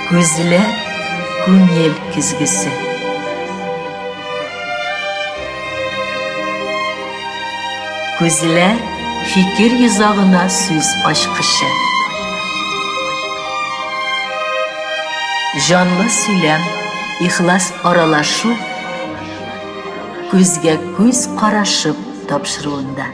Күзләр күңел көзгесе. Күзләр фикер йозагына сүз ачкычы. Җанлы сөйләм, ихлас аралашу күзгә күз карашып тапшыруында.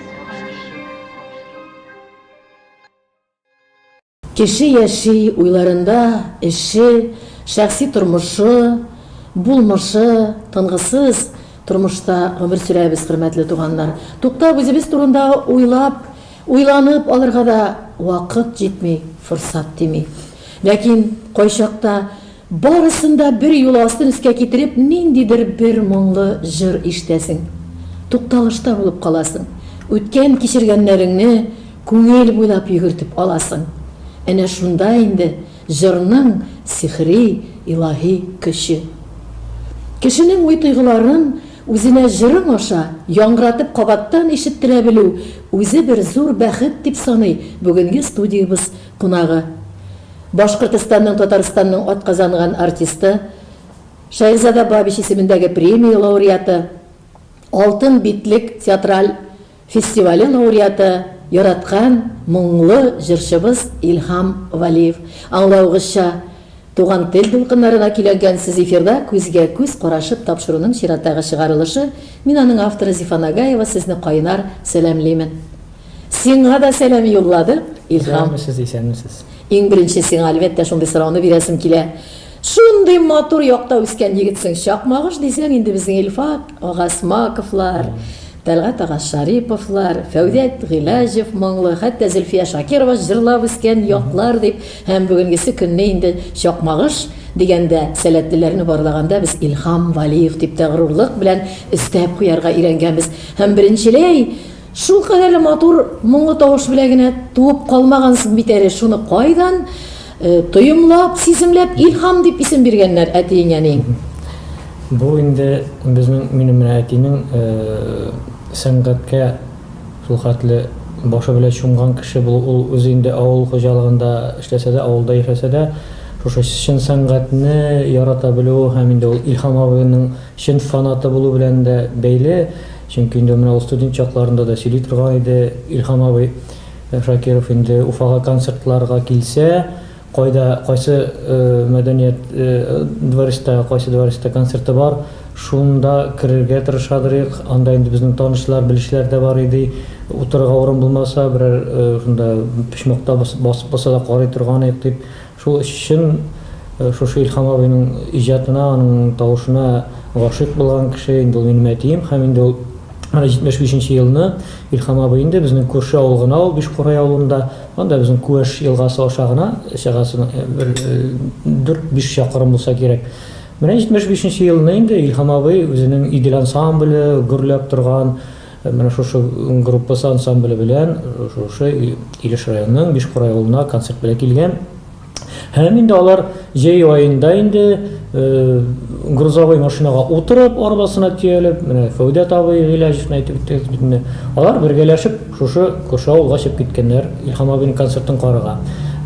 Кеше яши, уйларында, эше, шәхси тормышы, булмышы, тынгысыз тормышта гомер сөрәбез, хөрмәтле туганнар. Туктап, үзебез турында уйлап, уйланып алырга да вакыт җитми, форсат тими. Ләкин кайчакта Барысын да бер юлы астын өскә китереп, ниндидер бер моңлы җыр ишетәсең. Тукталышта булып каласың. Үткән кичергәннәреңне күңел буйлап йөгертеп аласың. Әнә шунда инде җырның сихри, илаһи көче. Кешенең уй-тойгыларын үзенә җырың аша яңгыратып кабаттан ишеттерә белү, үзе бер зур бәхет, дип саный бүгенге студиябез Кунагы. Башкортостанның Татарстанның атказанган артисты, Шаирзада Бабич исемендәге премия лауреаты, Алтын битлек театраль фестивале лауреаты, яраткан моңлы җырчыбыз Илһам Вәлиев. Аңлавыгызча, Туган тел дулкыннары да көйләнгән сез эфирда күзгә күз карашып тапшыруның чираттагы чыгарылышы, мин аның авторы Зифа Нагаева сезне кайнар сәламлимен. Сиңа да сәлам юлладык, Илһам. Исәнмесез, исәнмесез. Иң беренче сиңа әлбәттә шундый сорауны бирәсем килә. Шундый матур якта үскән егетсең, чакмагыш дисәң инде безнең Илфат ага Смаковлар, Тәлгать ага Шариповлар, Фәүдәт Гыйләҗев моңлы, хәтта Зөлфия Шакирова җырлап үскән яклар дип, Һәм бүгенгесе көнне инде Чакмагыш дигәндә, сәләтлеләрне барлаганда без Илһам Вәлиев дип тә горурлык белән өстәп куярга өйрәнгәнбез. Һәм беренчеләй, шул кадәрле матур моңлы тавыш белән генә туып калмагансың бит әле, шуны кайдан тоемлап, сиземләп Илһам дип исем биргәннәр әтиең-әниең? Бу инде безнең, минем менә әтинең сәнгатькә, Шулхәтле башы белән чумган кеше булу, ул үзе инде авыл хуҗалыгында эшләсә дә, авылда яшәсә дә, шушы чын сәнгатьне ярата белүе һәм инде ул Илһам абыйның чын фанаты булу белән дә бәйле. Чөнки инде менә ул студент чакларында да сөйли торган иде, Илһам абый Шакиров инде Уфага концертларга килсә, Кайда, кайсы мәдәният дворецта, кайсы дворецта концерты бар, шунда керергә тырышадырыйк. Анда инде безнең танышлар, белешләр дә бар иде. Утырырга урын булмаса, берәр шунда почмакта басып калса да карый торган идек, дип. Шул өчен шушы Илһам абыйның иҗатына, аның тавышына гашыйк булган кеше инде ул минем әтием һәм инде ул менә 75 нче елны Илһам абый инде безнең күрше авыл гына ул, Биш Курай авылында. Анда безнең Күәш елгасы аша гына чыгасың, бер 4-5 чакрым булса кирәк. Менә 75 нче елны инде Илһам абый үзенең Идел ансамбле гөрләп торган менә шушы группасы ансамбле белән шушы Илеш районының Бишкура авылына концерт белән килгән. Һәм инде алар җәй аенда инде грузовой машинага утырып, арбасына төялеп, менә Фәүдәт абый Гыйләҗевне әйтеп үттегез бит инде. Алар бергәләшеп шушы күрше авылга чыгып киткәннәр Илһам абыйның концертын карарга.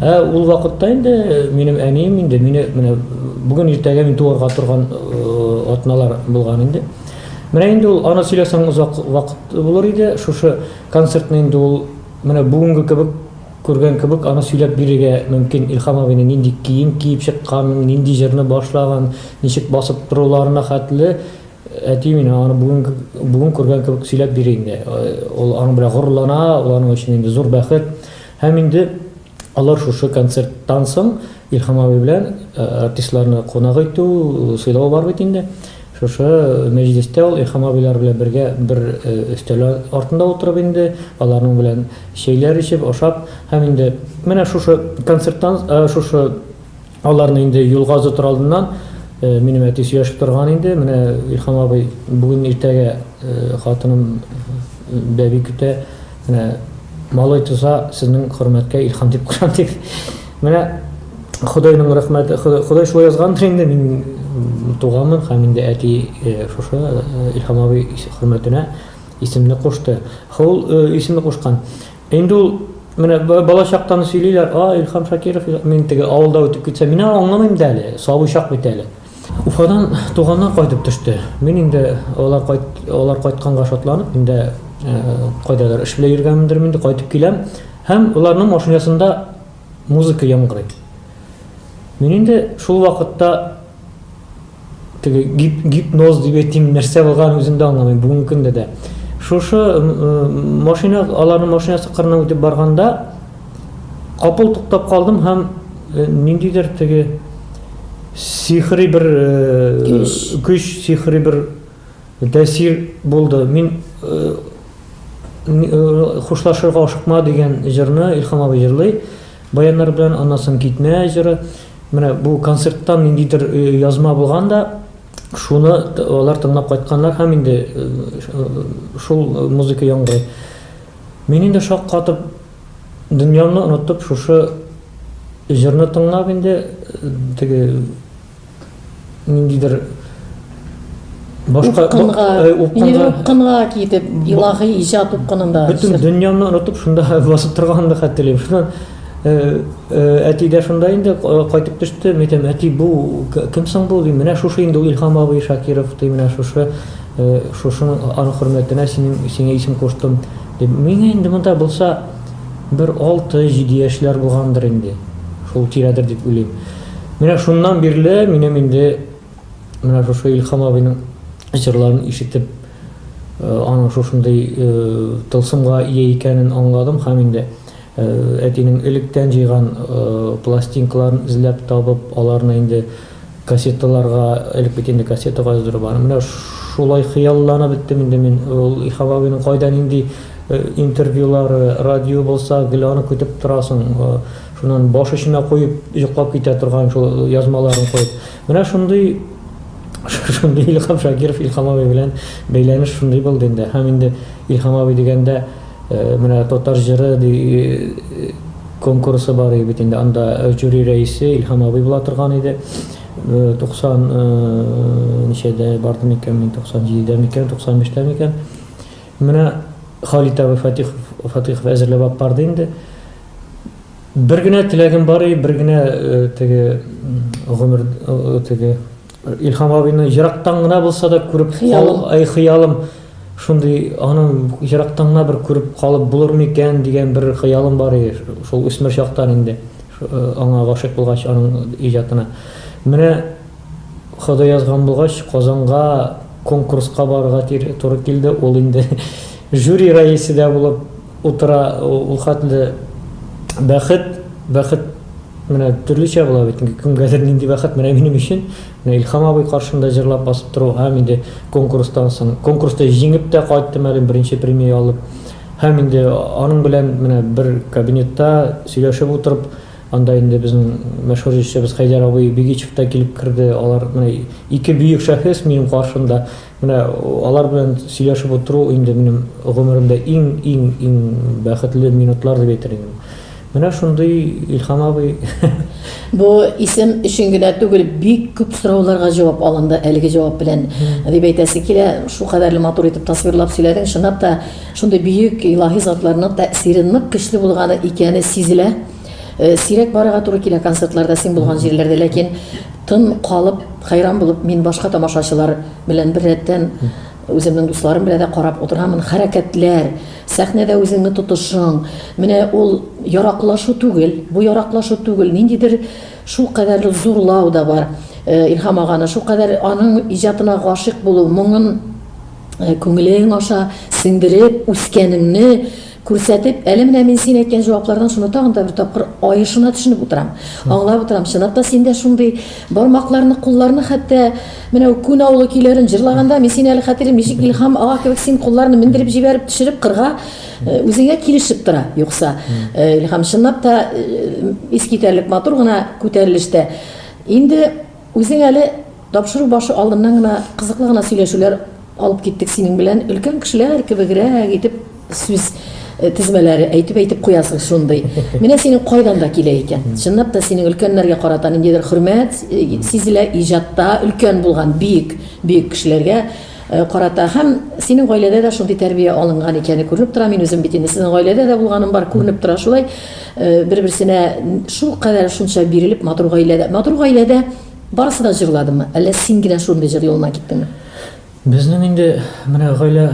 Ә ул вакытта инде минем әнием инде мине менә бүген иртәгә мин туарга торган атналар булган инде. Менә инде ул аны сөйләсәң озак вакыт булыр иде. Шушы концертны инде ул менә бүгенге кебек Күргән кебек, аны сөйләп бирергә мөмкин, Илһам абыйның нинди кием киеп чыкканын, нинди җырны башлаган, ничек басып торуларына хәтле. Әти миңа аны бүген, бүген күргән кебек сөйләп бирә инде. Ул аның белән горурлана, ул аның өчен инде зур бәхет. Һәм инде алар шушы концерттан соң Илһам абый белән артистларны кунак итү, сыйлау бар бит инде. Шушы мәҗлестә ул Илһам абыйлар белән бергә бер өстәл артында утырып инде аларның белән Чәйләр эчеп, ашап һәм инде менә шушы концерттан, шушы аларны инде юлга озатыр алдыннан минем әти сөйләшеп торган инде, менә Илһам абый бүген иртәгә хатыным бәби көтә, менә малай туса, сезнең хөрмәткә Илһам дип кушам дип. Менә Ходайның рәхмәте, Ходай шулай язгандыр инде, мин туганмын һәм инде әти шушы Илһам абый хөрмәтенә Исемне кушты. Хо, ул исемне кушкан. Инде ул менә балачактан сөйлиләр, а, Илхам Шакиров, мин теге авылда үтеп китсә, мин аны аңламыйм да әле, сабый чак бит әле. Уфадан туганнар кайтып төште. Мин инде алар кайт, алар кайтканга шатланып, инде кайдадыр эш белән йөргәнмендер инде, кайтып киләм һәм аларның машинасында музыка яңгырый. Мин инде шул вакытта теге гип, гипноз дип әйтим нәрсә булган үзем дә аңламыйм бүгенге көндә дә шушы машина аларның машинасы кырына үтеп барганда капыл туктап калдым һәм э, ниндидер теге сихри бер э, көч сихри бер тәэсир булды мин э, хушлашырга ашыкма дигән җырны илхам абый җырлый баяннар белән аннан соң китмә җыры Менә бу концерттан ниндидер язма булган да, шуны алар тыңлап кайтканнар һәм инде шул музыка яңгырый. Мин инде шак катып, дөньямны онытып, шушы җырны тыңлап инде теге Ниндидер башка упкынга, упкынга, упкынга китеп, илаһи иҗат упкынында. Бөтен дөньяны онытып, шунда басып торганын да хәтерлим. Шуннан Э, э, әти дә шунда инде э, кайтып төште мен әйтәм әти бу кем соң бу дим менә шушы инде илһам абый шакиров ди менә шушы шушының аның хөрмәтенә синең сиңа исем куштым дип миңа инде монда булса бер алты җиде яшьләр булгандыр инде шул тирәдер дип уйлыйм Менә шуннан бирле минем инде менә шушы Илхам абыйның җырларын ишетеп, аның шушындый тылсымга ия икәнен аңладым һәм инде әтинең электән җыйган пластинкаларын эзләп табып, аларны инде кассеталарга, элек бит инде кассета каздыру бар, менә шулай хыялланып беттем инде мин, ул Илхам абыйның кайда нинди интервьюлары, радио булса, гел аны көтеп торасың. Шуннан баш очына куеп, йоклап китә торган шул язмаларын куеп. Менә шундый шундый Илхам Шакиров Илхам абый белән бәйләнеш шундый булды инде. Һәм инде Илхам абый дигәндә менә татар җыры ди конкурсы бар иде бит инде. Анда жюри рәисе Илхам абый була торган иде. 90 ничәдә барды микән мин 97дә микән 95дә микән. Менә Халит абый Фатихов Фатихов әзерләп алып барды инде. Бер генә теләгем бар и, бер генә теге гомер теге Илһам абыйны ерактан гына булса да күреп кал, ай хыялым шундый аның ерактан гына бер күреп калып булыр микән дигән бер хыялым бар и, шул үсмер чактан инде. Аңа гашыйк булгач аның иҗатына. Менә Ходай язган булгач Казанга конкурска барырга туры килде. Ул инде жюри рәисе дә булып Утыра ул хәтле бәхет, бәхет менә төрлечә була бит инде, кемгәдер нинди бәхет, менә минем өчен менә Илһам абый каршында җырлап басып тору һәм инде конкурстан соң, конкурста җиңеп тә кайттым әле, беренче премия алып, һәм инде аның белән менә бер кабинетта сөйләшеп утырып, анда инде безнең мәшһүр җырчыбыз Хәйдәр абый Бигичев та килеп керде, алар менә ике бөек шәхес минем каршымда, Менә алар белән сөйләшеп утыру инде минем гомеремдә иң-иң-иң бәхетле минутлар дип әйтер идем. Менә шундый, Илһам абый. Бу исем өчен генә түгел, бик күп сорауларга җавап алынды әлеге җавап белән, дип әйтәсе килә. Шулкадәрле матур итеп тасвирлап сөйләдең. Чынлап та, шундый бөек, илаһи затларның тәэсире нык көчле булганы икәне сизелә. Э, сирәк барырга туры килә концертларда син булган җирләрдә ләкин тын калып хәйран булып мин башка тамашачылар белән бер рәттән үземнең дусларым белән дә карап утырамын хәрәкәтләр сәхнәдә үзеңне тотышың менә ул яраклашу түгел бу яраклашу түгел ниндидер шул кадәр зурлау да бар э, илһам аганы шул кадәр аның иҗатына гашыйк булу моңын э, күңелең аша сеңдереп үскәнеңне күрсәтеп, әле менә мин син әйткән җаваплардан шуны тагын да бер тапкыр аешына төшенеп утырам. Аңлап утырам. Чынлап та синдә шундый бармакларны, кулларны хәтта менә күн авылы көйләрен җырлаганда мин сине әле хәтерлим, ничек Илһам ага кебек син кулларны мендереп җибәреп, төшереп кырга э, үзеңә килешеп тора. Юкса э, Илһам чынлап та э, искитәрлек матур гына күтәрелештә. Инде үзең әле Тапшыру башы алдыннан гына кызыклы гына сөйләшүләр алып киттек синең белән. Өлкән кешеләр кебегрәк итеп сүз тезмәләре әйтеп-әйтеп куясың шундый. Менә синең кайдан да килә икән. Чынлап та синең өлкәннәргә карата ниндидер хөрмәт сизелә, иҗатта өлкән булган биек, бөек кешеләргә карата. Һәм синең гаиләдә дә шундый тәрбия алынган икәне күренеп тора. Мин үзем бит инде сезнең гаиләдә дә булганым бар, күренеп тора шулай. Бер-берсенә шулкадәр шунча бирелеп матур гаиләдә, матур гаиләдә. Барысы да җырладымы, әллә син генә шундый җыр юлына киттеңме? Безнең инде менә гаилә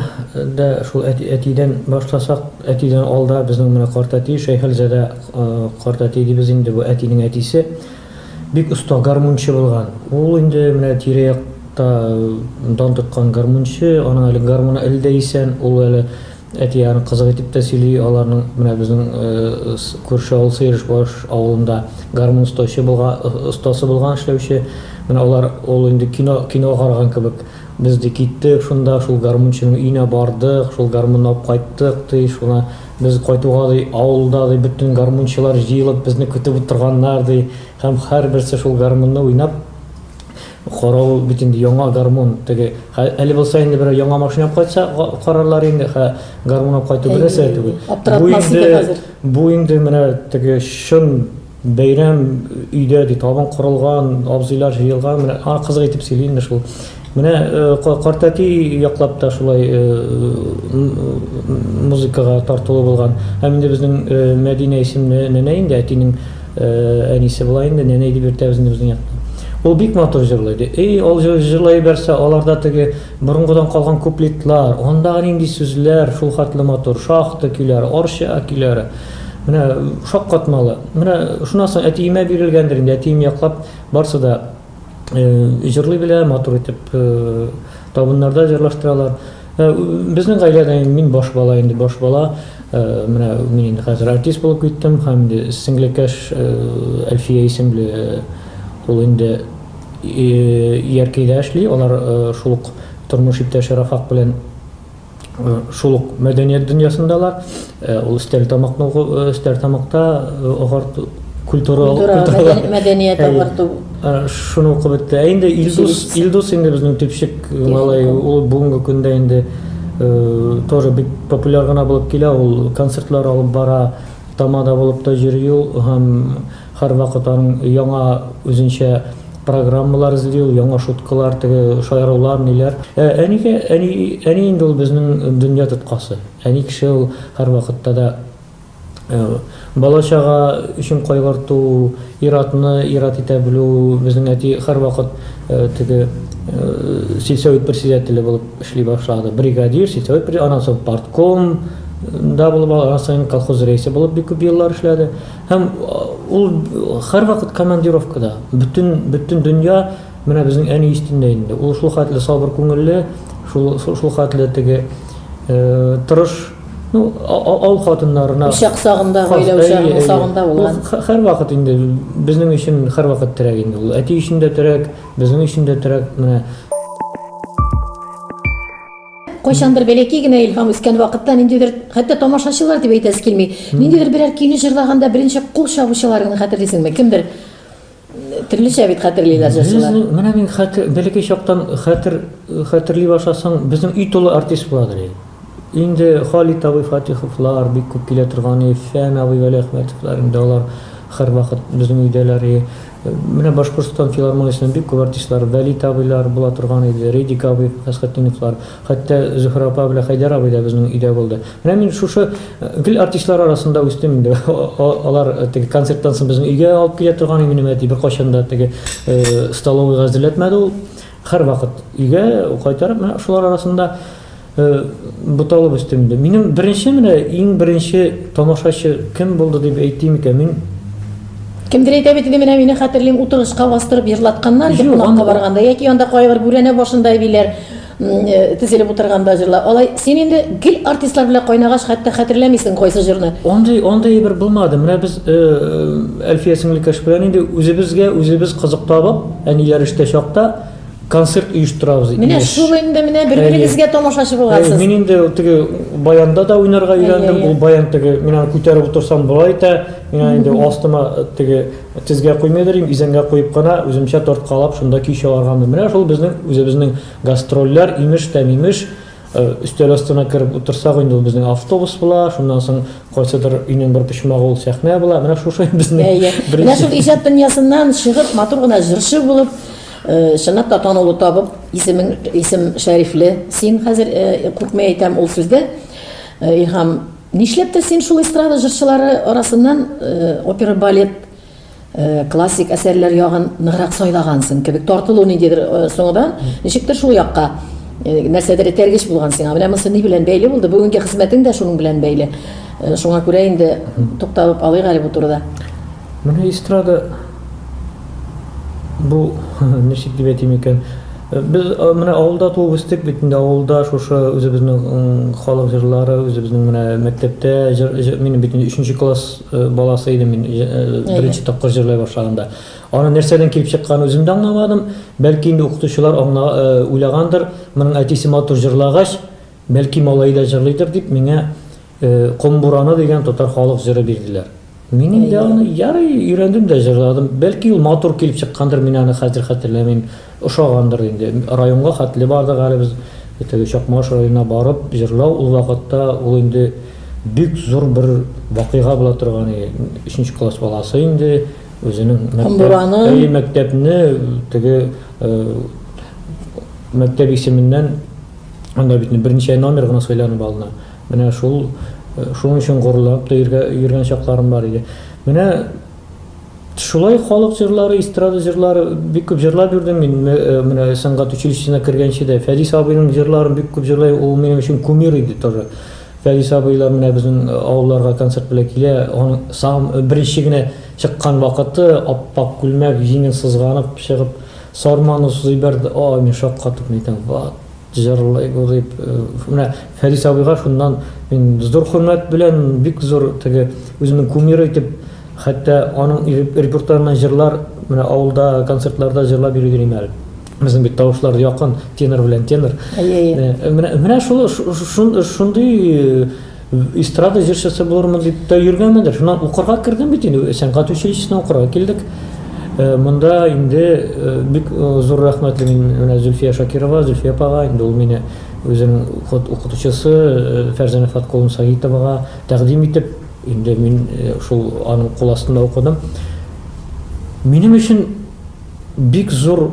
дә шул әти, әтидән башласак, әтидән алда безнең менә картәти, Шәйхелзадә картәти дибез инде, бу әтинең әтисе. Бик оста гармунчы булган. Ул инде менә тирә-якта дан тоткан гармунчы, аның әле гармуны әле дә исән, ул әле Әти-аны кызык итеп тә сөйли аларның менә безнең күрше авыл Сыерышбаш авылында гармун остаучы булган остасы булган эшләүче менә алар ул инде кино кино караган кебек без ди киттек шунда шул гармунчының өенә бардык шул гармунны алып кайттык ди шуна без кайтуга ди авылда ди бөтен гармунчылар җыелып безне көтеп утырганнар ди һәм һәрберсе шул гармунны уйнап Карау бит инде яңа гармун теге хә әле булса инде берәү яңа машина алып кайтса га карарлар инде хә гармун алып кайту бер нәрсә дә түгел. Бу инде бу инде менә теге чын бәйрәм өйдә ди табын корылган, абзыйлар җыелган менә а кызык итеп сөйли инде шул. Менә ка картәти яклап та шулай м музыкага тартулы булган. Һәм инде безнең Мәдинә исемле нәнәй инде әтинең Әнисе болай инде, нәнәй дип йөртә безне безнең якта. Ул бик матур җырлый, ди. И, ул җырлый ебәрсә, аларда теге борынгыдан калган куплетлар, андагы нинди сүзләр шулхәтле матур, шахта көйләре, Арча көйләре. Менә шаккатмалы. Менә шуннан соң әтиемә бирелгәндер инде, әтием яклап барсы да җырлый белә, матур итеп табыннарда җырлаштыралар. Безнең гаиләдә инде мин баш бала инде, баш бала. Менә мин инде хәзер артист булып киттем һәм инде сеңлекәш Әлфия исемле ул инде Яркәйдә эшли. Алар шул ук тормыш иптәше Рафак белән шул ук мәдәният дөньясындалар. Э, ул өстәл тамакны э, өстәл тамакта э, агарту культура мәдәният агарту шуны укып бетте. Ә инде Илдус Илдус инде безнең төпчек малай ул бүгенге көндә инде тоже бик популяр гына булып килә. Ул концертлар алып бара, тамада булып та йөри ул һәм Һәрвакыт аның яңа үзенчә программалар эзли ул, яңа шуткалар, теге шаярулар, ниләр. Ә әнигә, әни, әни инде ул безнең дөнья тоткасы. Әни кеше ул һәрвакытта да бала-чага өчен кайгырту, ир-атны ир-ат итә белү, безнең әти һәрвакыт теге сельсовет председателе булып эшли башлады. Бригадир, сельсовет председателе, аннан соң партком да булып, аннан соң колхоз рәисе булып бик күп еллар эшләде. Һәм ул һәрвакыт командировкада. Бөтен, бөтен дөнья менә безнең әни өстендә инде. Ул шул хәтле сабыр күңелле, шул, шул хәтле теге тырыш, ну, авыл хатыннарына. Учак сагында, гаилә учагының сагында булган. Ул һәрвакыт инде безнең өчен һәрвакыт терәк инде ул. Әти өчен дә терәк, безнең өчен дә терәк. Менә. кайчандыр бәләкәй генә илһам үскән вакытта ниндидер хәтта тамашачылар дип әйтәсе килми ниндидер берәр көйне җырлаганда беренче кул чабучылар гына хәтерлисеңме кемдер төрлечә бит хәтерлиләр җырчылар менә мин хәтер бәләкәй чактан хәтер хәтерли башласаң безнең өй тулы артист буладыр инде халит абый фатиховлар бик күп килә торган фән абый вәлиәхмәтовлар инде алар һәрвакыт безнең өйдәләр Менә Башкортстан филармониясенең бик күп артистлары, Вәлит абыйлар була торган иде, Редик абый, Фәсхетдиновлар, хәтта Зөһрә апа белән Хәйдәр абый да безнең өйдә булды. Менә мин шушы гел артистлар арасында үстем инде. Алар теге концерттан соң безнең өйгә алып килә торган иде минем әти, беркайчан да теге столовыйга әзерләтмәде ул. Һәрвакыт өйгә кайтарып, менә шулар арасында буталып үстем инде. Минем беренче менә иң беренче тамашачы кем булды дип әйтим икән, мин Кемдер әйтә бит инде, менә мине хәтерлим, утыргычка бастырып җырлатканнар иде кунакка барганда, яки анда кайбер бүрәнә башында әбиләр тезелеп утырганда җырла. Алай син инде гел артистлар белән кайнагач, хәтта хәтерләмисең кайсы җырны. Андый, андый бер булмады. Менә без Әлфия сеңлекәш белән инде үзебезгә үзебез кызык табып, Әниләр эштә чакта концерт оештырабыз. Менә шул инде менә бер-берегезгә тамашачы буласыз. Мин инде теге баянда да уйнарга өйрәндем. Ул баян теге мин аны күтәреп утырсам болай итә. Мин аны инде астыма теге тезгә куймый дөрим, изәнгә куеп кына үземчә тарткалап шунда көй чыгарган. Менә шул безнең үзебезнең гастрольләр, имеш тә мимеш, Өстәл астына кереп утырсак, инде ул безнең автобус була, шуннан соң кайсыдыр өйнең бер почмагы ул сәхнә була. Менә шушы безнең Әйе. Менә шул иҗат дөньясыннан чыгып, матур гына җырчы булып, э, чынлап та танылу табып, исемең исем шәрифле. Син хәзер э, күпме әйтәм ул сүздә, э, Илһам, нишләп тә син шул эстрада җырчылары арасыннан э, опера балет Классик әсәрләр ягын ныграк сайлагансың кебек, тартылу ниндидер соңыдан, ничектер шул якка нәрсәдер этәргеч булган сиңа. Менә монсы ни белән бәйле булды? Бүгенге хезмәтең дә шуның белән бәйле. Шуңа күрә инде тукталып алыйк әле бу турыда. Менә эстрада бу ничек дип әйтим икән? Без менә авылда туып үстек бит инде, авылда шушы үзебезнең халык җырлары, үзебезнең менә мәктәптә җыр, минем бит инде 3 класс Э, баласы идем мин э, э, беренче тапкыр җырлый башлаганда аны нәрсәдән килеп чыкканын үзем дә аңламадым бәлки инде укытучылар аңла уйлагандыр моның әтисе матур җырлагач бәлки малае да җырлыйдыр дип миңа комбураны дигән татар халык җыры бирделәр мин инде аны ярый өйрәндем дә җырладым бәлки ул матур килеп чыккандыр мин аны хәзер хәтерләмим Ошагандыр инде. Районга хәтле бардык әле без. Теге Чакмагыш районына барып җырлау, ул вакытта ул инде бик зур бер вакыйга була торган иде. Өченче класс баласы инде үзенең мәктәп, әйе, мәктәпне теге мәктәп исеменнән анда бит берничә номер гына сайланып алына. Менә шул шуның өчен горурланып та йөргән чакларым бар иде. Менә Шулай халык җырлары, эстрада җырлары бик күп җырлап йөрдем мин. Менә сәнгать училищесына кергәнче дә Фәдис абыйның җырларын бик күп җырлый. Ул минем өчен кумир иде тоже. Фәдис абыйлар менә безнең авылларга концерт белән килә. Аның сам беренче генә чыккан вакыты, ап-ак күлмәк, җиңен сызганып чыгып, сарманы сузып җибәрде. Ай, мин шаккатып әйтәм, ват! Җырлый бу дип, менә Фәрис абыйга шуннан мин зур хөрмәт белән, бик зур теге үземнең кумиры итеп, хәтта аның репертуарыннан җырлар менә авылда концертларда җырлап йөри дим әле. Безнең бит тавышлар якын, тенор белән тенор. Әйе, әйе. Менә шул шундый Эстрада җырчысы булырмын дип тә йөргәнмендер. Шуннан укырга кердем бит инде, сәнгать училищесына укырга килдек. Э, монда инде э, бик э, зур рәхмәтле мин менә Зөлфия Шакирова, Зөлфия апага, инде ул мине үзенең ход укытучысы Фәрзәнә Фаткуловна Саитовага тәкъдим итеп, инде мин шул аның кул астында укыдым. Минем өчен бик зур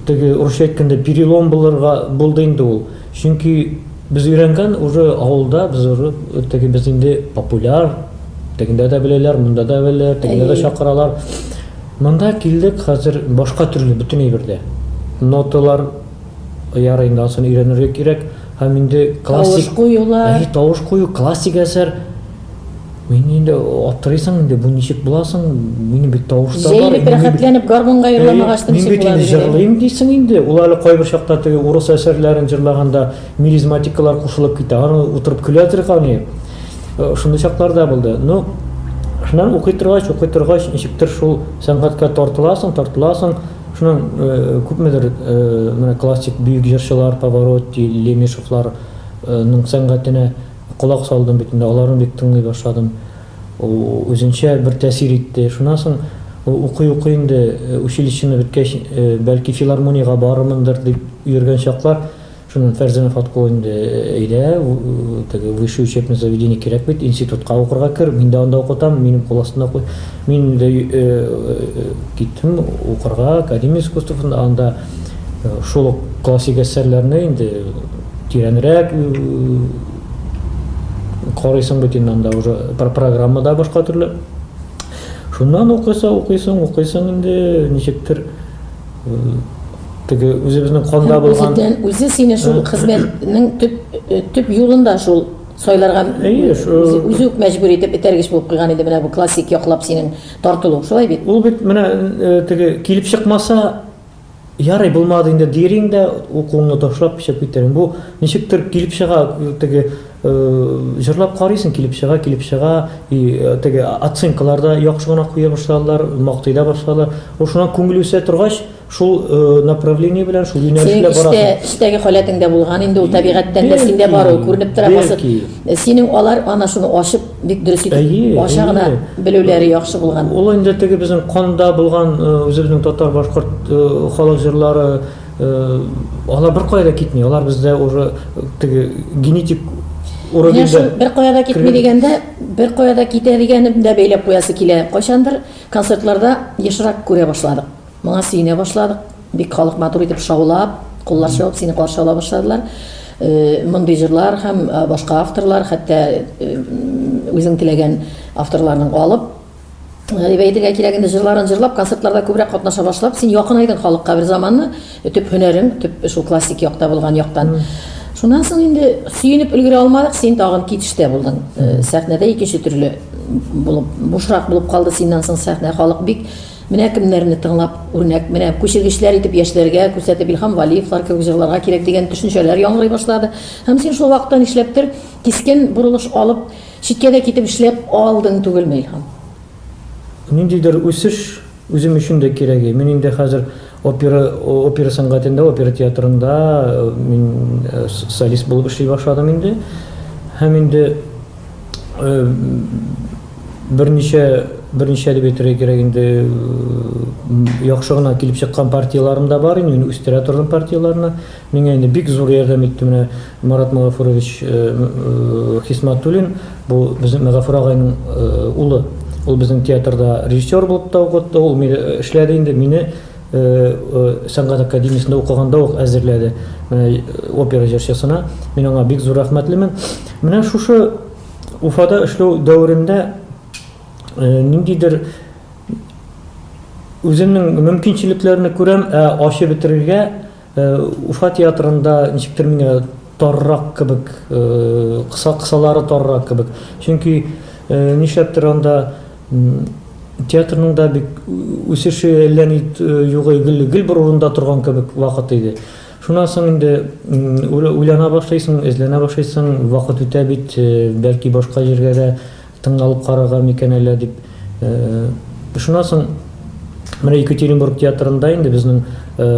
Теге урысча әйткәндә перелом булырга булды инде ул. Чөнки без өйрәнгән уже авылда без уже теге без инде популяр. Тегендә дә беләләр, монда да беләләр, тегендә дә чакыралар. Монда килдек, хәзер башка төрле бөтен әйбердә. Ноталар ярый инде ансын өйрәнергә кирәк. Һәм инде классик тавыш куюлар. Тавыш кую классик әсәр. Мин инде аптырыйсың инде, бу ничек була соң? Минем бит тавыш та бар. Җәелеп рәхәтләнеп гармунга йөрламагач та ничек була? Мин бит инде җырлыйм дисең инде. Ул әле кайбер чакта теге урыс әсәрләрен җырлаганда мелизматикалар кушылып китә. Аны утырып көләдер гани. Э, шундый чаклар да булды. Ну, шуннан укый торгач, укый торгач, ничектер шул сәнгатькә тартыласың, тартыласың. Шуннан э, күпмедер э, менә классик бөек җырчылар Поворотти, Лемешевларның сәнгатенә Колак салдым бит инде, аларны бик тыңлый башладым. Ул үзенчә бер тәэсир итте. Шуннан соң ул укый-укый инде, училищены беткәч, бәлки филармониягә барырмындыр дип йөргән чаклар, шуннан Фәрзәнә Фаткулла инде, әйдә, теге высшее учебное заведение кирәк бит, институтка укырга кер, мин дә анда укытам, минем кул астында уку. Мин инде киттем укырга, академия искусствосында, анда шул ук классик әсәрләрне инде, Тирәнрәк карыйсың бит инде анда уже программа да башка төрле. Шуннан укыйсың, укыйсың, укыйсың инде ничектер теге үзебезнең канда булган үзедән үзе сине шул хезмәтнең төп э, төп юлында шул сайларга үзе үк мәҗбүр итеп этәргеч булып куйган иде менә бу классик яклап синең тартылу шулай бит ул бит менә э, теге килеп чыкмаса Ярый, булмады инде дирин дә, укуыңны ташлап эчеп китерин. Бу ничектер килеп чыга, теге җырлап карыйсың, килеп чыга, килеп чыга, и теге оценкалар да яхшы гына куя башладылар, мактый да башладылар. Ул шуннан күңел үсә торгач, шул направление белән, шул юнәлеш белән барасың. Синең эчтәге халәтең дә булган инде, ул табигатьтән дә синдә бар, ул күренеп тора. Синең алар анасыны ачып Бик дөрес итеп әйе, ача гына белүләре яхшы булган. Ул инде теге безнең канда булган э, үзебезнең татар башкорт э, халык җырлары э, алар беркая да китми. Алар бездә уже теге генетик уровеньда. Шул беркая да китми дигәндә, беркая да китә дигәнем дә бәйләп куясы килә. Кайчандыр концертларда ешрак күрә башладык. Моңа сөенә башладык. Бик халык матур итеп шаулап, куллар чабып сине каршы ала башладылар. Мондый җырлар һәм башка авторлар, хәтта үзең теләгән авторларның алып, әйтергә кирәк инде җырларын җырлап, концертларда күбрәк катнаша башлап, син якынайдың халыкка берзаманны, төп һөнәрең, төп шул классик якта булган яктан. Шуннан соң инде сөенеп өлгерә алмадык, син тагын китештә булдың. Сәхнәдә икенче төрле булып, бушрак булып калды синнән соң сәхнә, халык бик Менә кемнәрне тыңлап, үрнәк, менә күчергечләр итеп яшьләргә күрсәтеп Илһам Вәлиевлар кебек җырларга кирәк дигән төшенчәләр яңгырый башлады. Һәм син шул вакытта нишләптер кискен борылыш алып, читкә дә китеп эшләп алдың түгелме, Илһам? Ниндидер үсеш үзем өчен дә кирәге. Мин инде хәзер Опера, опера сәнгатендә, опера театрында мин солист булып эшли башладым инде. Һәм инде берничә берничә дип әйтергә кирәк инде яхшы гына килеп чыккан партияләрем дә бар инде, мин үстерә тордым партияләрне. Миңа инде бик зур ярдәм итте менә Марат Магафурович Хисматуллин, бу безнең Мәгафур агайның улы. Ул безнең театрда режиссер булып та укытты, ул мине эшләде инде, мине сәнгать академиясендә укыганда ук әзерләде опера җырчысына. Мин аңа бик зур рәхмәтлемен. Менә шушы Уфада эшләү дәверендә ниндидер үземнең мөмкинчелекләрне күрәм, ә ачы бетерергә Уфа театрында ничектер миңа таррак кебек, кыса кысалары таррак кебек. Чөнки нишләптер анда театрның да бик үсеше әллә ни югы гел гел бер урында торган кебек вакыт иде. Шуннан соң инде уйлана башлыйсың, эзләнә башлыйсың, вакыт үтә бит, бәлки башка җиргә дә Тыңлалып карарга микән әллә дип ышынасың. Менә Екатеринбург театрында инде безнең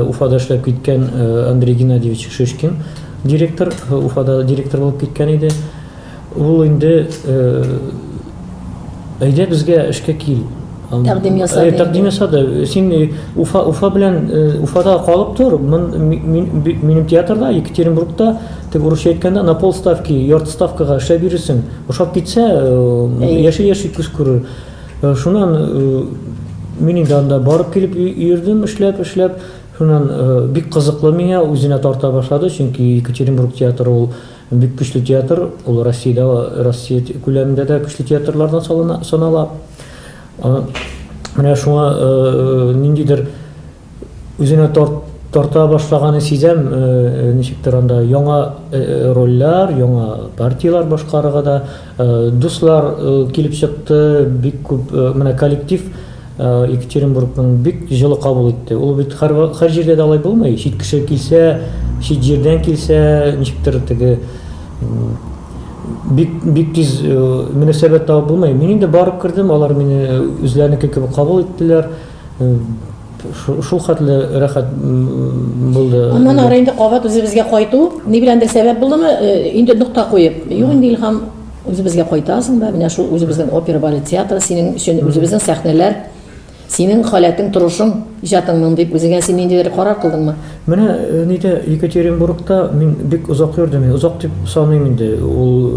Уфада эшләп киткән Андрей Геннадьевич Шишкин директор, Уфада директор булып киткән иде. Ул инде әйдә безгә эшкә кил, Тәкъдим ясады. Э, тәкъдим ясады. Син э, Уфа, Уфа белән э, Уфада калып тор. Мин, мин, минем театрда Екатеринбургта тек урысча әйткәндә на пол ставки, ярты ставкага эшләп йөрисең. Ошап китсә, яши яши күз күрер. Шуннан мин инде анда барып килеп йөрдем, эшләп, эшләп. Шуннан бик кызыклы миңа үзенә тарта башлады, чөнки Екатеринбург театры ул Бик көчле театр, ул Россиядә, Россия күләмендә дә көчле театрлардан салына, санала. Менә шуңа ниндидер үзенә тарт тарта башлаганы сизәм ничектер анда яңа рольләр яңа партияләр башкарырга да Дуслар килеп чыкты, бик күп, менә коллектив Екатеринбургның бик җылы кабул итте. Ул бит һәр һәр җирдә дә алай булмый, чит кеше килсә, чит җирдән килсә, ничектер теге бик бик тиз мөнәсәбәт табып булмый. Мин инде барып кердем, алар мине үзләренеке кебек кабул иттеләр. Шул хәтле рәхәт булды. Аннан ары инде кабат үзебезгә кайту, ни беләндер сәбәп булдымы, инде нокта куеп, юк инде Илһам, үзебезгә кайтасың да, менә шул үзебезнең опера, балет театры синең өчен, үзебезнең сәхнәләр, синең халәтең, торышың, иҗатыңның дип үзеңә син ниндидер карар кылдыңмы? Менә нидә Екатеринбургта мин бик озак йөрдем. Мин озак дип саныйм инде. Ул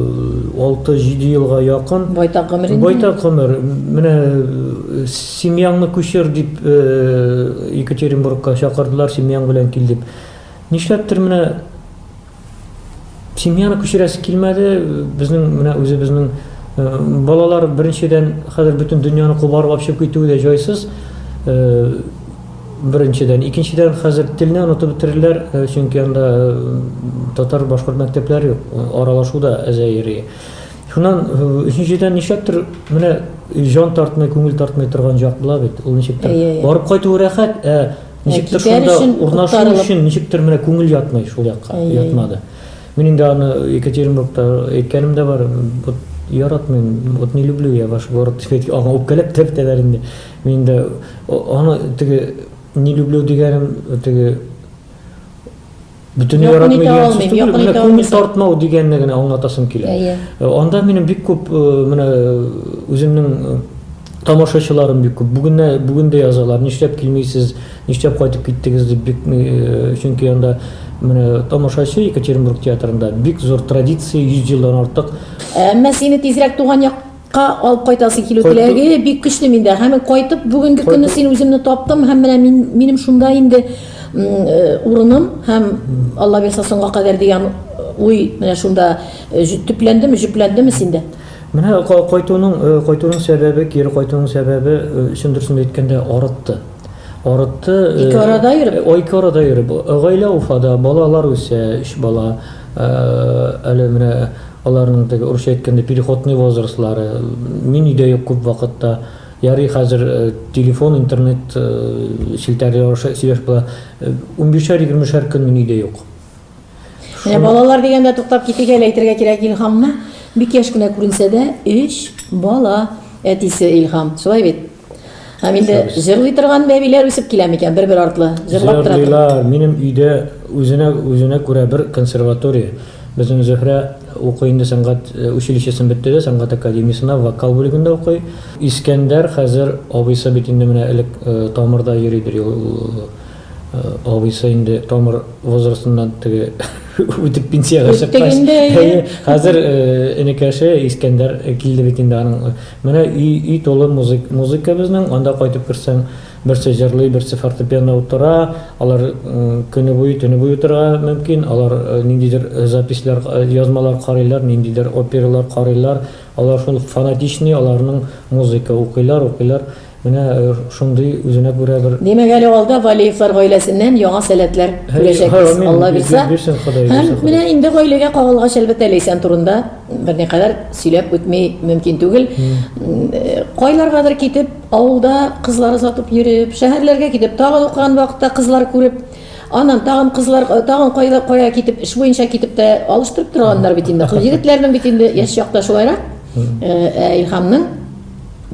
6-7 э, елга якын. Байтак гомер инде. Байтак гомер. Менә э, семьяңны күчер дип э, Екатеринбургка чакырдылар, семьяң белән кил дип. Нишләптер менә Семьяны күчерәсе килмәде, безнең менә үзебезнең э, балалар беренчедән хәзер бөтен дөньяны кубарып алып чыгып китүе дә җайсыз. Э, беренчедән, икенчедән хәзер телне онытып бетерерләр, э, чөнки анда татар башкорт мәктәпләре юк, аралашу да әзәйри. Шуннан өченчедән нишләптер менә җан тартмый, күңел тартмый торган җак була бит. Ул ничектер барып кайту рәхәт, ә Ничектер шунда урнашу өчен ничектер менә күңел ятмый шул якка, ятмады. Мин инде аны Екатеринбургта әйткәнем дә бар. Вот яратмыйм, вот не люблю я ваш город дип әйткән. Аңа үпкәләп тә бетәләр инде. Мин инде аны теге не люблю дигәнем теге бөтенләй яратмый дигән сүз түгел, менә күңел тартмау дигәнне генә аңлатасым килә. Ә, ә, анда минем бик күп э, менә э, үземнең э, тамашачыларым бик күп. Бүген бүген дә язалар, нишләп килмисез, нишләп кайтып киттегез дип бик чөнки анда менә тамашачы Екатеринбург театрында бик зур традиция 100 елдан артык. Әмма сине тизрәк туган як Ка алып кайтасы килү Кайту- теләге бик көчле миндә. Һәм кайтып бүгенге көнне син үземне таптым һәм менә мин минем шунда инде м, э, урыным һәм Алла бирса соңга кадәр дигән уй менә шунда э, җ- төпләндеме, җөпләндеме синдә? Менә ка- кайтуның э, кайтуның сәбәбе, кире кайтуның сәбәбе э, чын дөресен әйткәндә арытты. Арытты. э, Ике арада йөреп? э, Ике арада йөреп. Гаилә Уфада, балалар үсә, өч бала. Э, Әле менә Аларның теге, урысча әйткәндә, переходный возрастлары, мин өйдә юк күп вакытта, ярый хәзер телефон, интернет челтәрләре аша сөйләшеп була. Унбишәр-егермешәр көн мин өйдә юк. Менә балалар дигәндә туктап китик әле, әйтергә кирәк Илһамны. Бик яшь кенә күренсә дә, өч бала әтисе Илһам. Шулай бит? Һәм инде җырлый торган бәбиләр үсеп килә микән, бер-бер артлы җырлап тора. Җырлыйлар. Минем өйдә үзенә үзенә күрә бер консерватория. Безнең Зөһрә укый инде сәнгать э, училищесын бетте дә, сәнгать академиясенә вокал бүлегендә укый. Искәндәр хәзер абыйсы бит инде менә элек э, тамырда йөридер ул Абыйсы инде тамыр возрастыннан теге үтеп пенсияга чыккач, хәзер энекәше Искәндәр килде бит инде аның. Менә өй өй тулы музык, музыка безнең. Анда кайтып керсәң, берсе җырлый, берсе фортепиано утыра. Алар көне буе, төне буе утырырга мөмкин. Алар ниндидер записьләр, язмалар карыйлар, ниндидер опералар карыйлар. Алар шул фанатичный, аларның музыка укыйлар, укыйлар. Менә шундый үзенә күрә бер. Димәк, әле алда Валиевлар гаиләсеннән яңа сәләтләр күрәчәкбез, Алла бирсә. Һәм менә инде гаиләгә кагылгач, әлбәттә, Ләйсән турында берникадәр сөйләп үтми мөмкин түгел. Кайларгадыр китеп, авылда кызлар озатып йөреп, шәһәрләргә китеп, тагын укыган вакытта кызлар күреп, аннан тагын кызлар, тагын кайда кая китеп, эш буенча китеп тә алыштырып торганнар бит инде. Егетләрнең бит инде яшь чакта шулайрак. Ә Илһамның